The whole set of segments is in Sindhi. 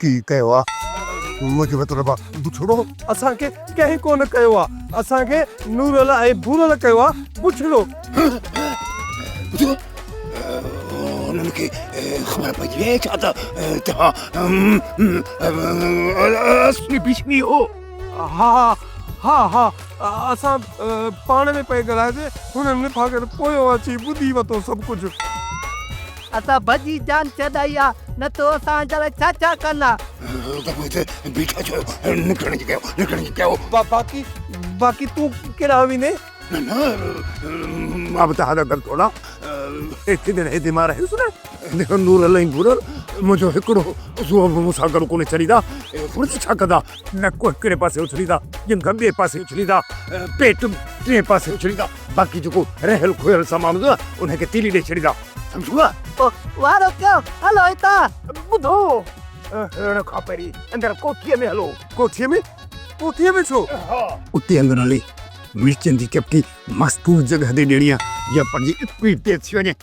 ڪي ڪيو آ منهنجي مطلب آ بڇڙو. اسان کي ڪنهن ڪونه ڪيو آ. اسان کي نورل ۽ ڀورل ڪيو آ بڇڙو. انهن کي خبر پئجي وئي ڇا ته توهان اصلي ڀيشمي هو. ها ها ها اسان پاڻ ۾ پئي ڳالهائيسي هنن نپاگهر پويان اچي ٻڌي وتو سڀ ڪجهه. اسان ڀڄي جان ڇڏائي آ نه تو اسان جا لاء ڇا ڇا ڪن آ. بيٺا ڇو آهيو نڪرڻ جي ڪيو نڪرڻ جي ڪيو. باقي باقي تون ڪيڏانهن ويندين. نه نه مان به تهان جا گل ٿورا ايتري دير هيدي مان رهيس نه جيڪو نور الهي نورل منهنجو هڪڙو عضو به مون سان گڏ ڪونهي چريدا اهي ڦڙت ڇا ڪندا. نڪ هڪڙي پاسي اڇليندا، ڄنگهه ٻئي پاسي اڇليندا، پيٽ ٽئين پاسي اڇليندا، باقي جيڪو رهيل کوهيل سامان هوندو نه انهي کي تيلي ڏئي ڇڏيندا، سمجهيوء؟ پوء وارو ڪيو، هلو هتان. ٻڌو، هلڻ کان پهرين اندر ڪوٺيء ۾ هلو. ڪوٺيء ۾؟ ڪوٺيء ۾ ڇو؟ ها. اتي اندر هلي مرچن جي چپٽي مستور جڳهه تي ڏيڻي آهي، جيئن پنهنجي اسپيڊ تيز ٿي وڃي.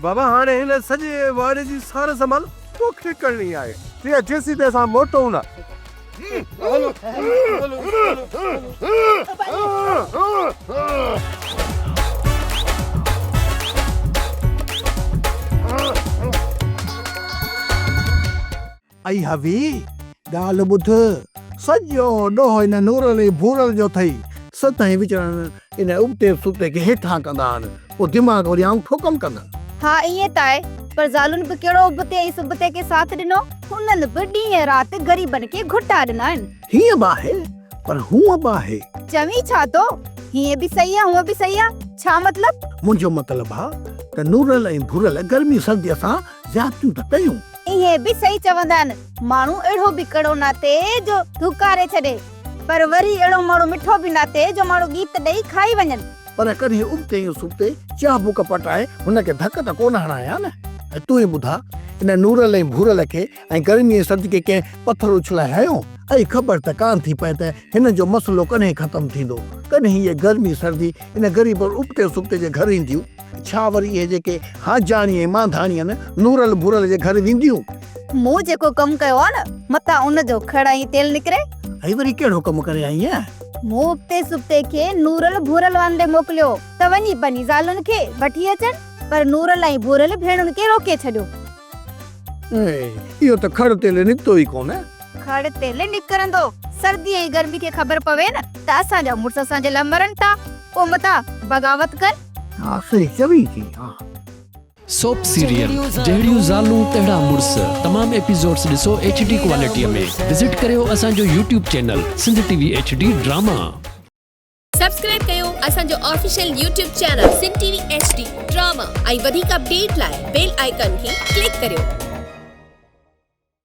بابا هاڻي هن سڄي واڙي جي سار سنڀال توکي ڪرڻي آهي. تيئن جيسين تائين اسان موٽون نه. اي حوي! ڳالهه ٻڌ، سڄو ڏوهه ان نورل ۽ ڀورل جو اٿئي، سدائين وچڙن ان ابتي به سبتي کي هيٺان ڪندا آهن، پوء دماغ وري آئون ٺوڪم ڪندن. ها ائين ته آهي، پر زالن به ڪهڙو ابتي ۽ سبتي کي ساٿ ڏنو، هنن به ڏينهن رات غريبن کي گهٽا ڏنا آهن. هيئن به آهي، پر هونء به آهي. چوين ڇا ٿو؟ هيئن به صحيح آهي، هونء به صحيح آهي، ڇا مطلب؟ منهنجو مطلب آهي ته نورل ۽ ڀورل گرمي سرديء سان زيادتيون ته ڪيون. ائين به صحيح چوندا آهن، ماڻهو اهڙو به ڪڙو ناتي جو ڌڪاري ڇڏي، پر وري اهڙو ماڻهو مٺو به ناتي جو ماڻهو ڳيت ڏئي کائي وڃن. پر ڪڏهن ابتي يا سبتي چاه بوڪ پٽائي هن کي ڌڪ ته ڪونه هڻان ها نه؟ ۽ تون ئي ٻڌاء، ان نورل ۽ ڀورل کي ۽ گرمي ۽ سرد کي ڪنهن پٿر اڇلائي هنيو؟ اهي خبر ته ڪانه ٿي پئي ته هنن جو مسئلو ڪڏهن ختم ٿيندو؟ ڪڏهن هيء گرمي سردي ان غريبن ابتي سبتي جي گهر اينديون؟ ڇا وري اهي جيڪي حاجاڻي ۽ مانڌاڻي آهن نورل ڀورل جي گهر وينديون؟ مون جيڪو ڪم ڪيو آهي نه متان ان جو کڙ ۽ تيل نڪري. هي وري ڪهڙو ڪم ڪري آئين آهين؟ مون اڳتي سبتي کي نورل ڀورل وانري موڪليو ته وڃي پنهنجي زالن کي وٺي اچن پر نورل ۽ ڀورل ڀيڻن کي روڪي ڇڏيو. اهو ته کڙ تيل نڪتو ئي ڪونه. کڙ تيل نڪرندو. سردي ۽ گرمي کي خبر پوي نه ته اسان جا مڙس اسان جي لاء مرن ٿا، پوء متان بغاوت ڪن. ها صحيح چوين ٿي ها. سوپ سيريل جهڙيون زالون تهڙا مڙس تمام ايپيسوڊس ڏسو ايڇ ڊي ڪوالٽيء ۾ وزٽ ڪريو اسان جو YouTube channel Sindh T V H D drama. Subscribe ڪيو اسان جو official YouTube channel Sindh T V H D drama ۽ وڌيڪ اپڊيٽ لاء بيل آئيڪان کي ڪلڪ ڪريو.